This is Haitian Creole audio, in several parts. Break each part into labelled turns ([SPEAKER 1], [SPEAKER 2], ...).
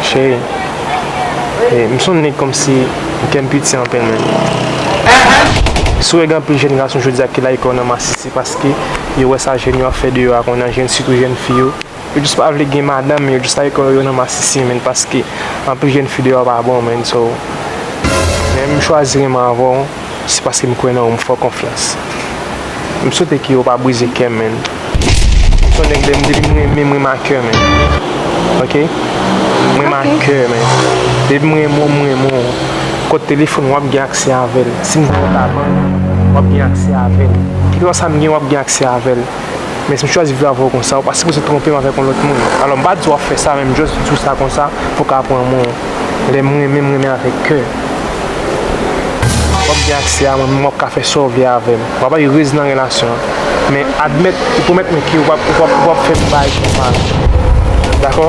[SPEAKER 1] Cheri eh m sonnen kòmsi kè m piti anpil menm. Si w reg anpil jèn gason jodia ki lage kò nan masisi paske yo wè sa jèn yo ap fè deyò a kounye a jèn sitou jèn fi yo yo just pa vle gen madanm men yo just lage kò yo nan masisi menn paske anpil jèn fi deyò pa bon menn so menm m chwazi renmen avè w. Se paske m kwè nan ou m fè w konfyans. M swete ke ou pa brize kè m menn. M son nèg lè m depi m renmen m renmen a kè menn. Ok. M renmen a kè menn. Depi m renmen w m renmen w. Kòd telefòn ou w ap gen aksè avè l. Si m voye w pa bank, w ap gen aksè avè l. Kèlkeswa sa m gen w ap gen aksè avè l. Men si m chwazi viv avè w konsa, ou pa sipoze twonpe m avèk yon lòt moun. Alò m pa di w ap fè sa, men m jòs di w sa konsa pou w ka pran mwen. Lè m renmen, m renmen avèk kè. W ap gen aksè a mwen, men w ap ka fè sa w vle avè m. W ap erez nan relasyon an. Men admèt e pwomèt mwen ke w pap fè m bay kè mal. Dakò?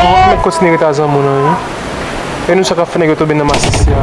[SPEAKER 1] An met kontinye ret a zanmi w lan wi. E nou sa kap fè nèg yo tonbe nan masisi a.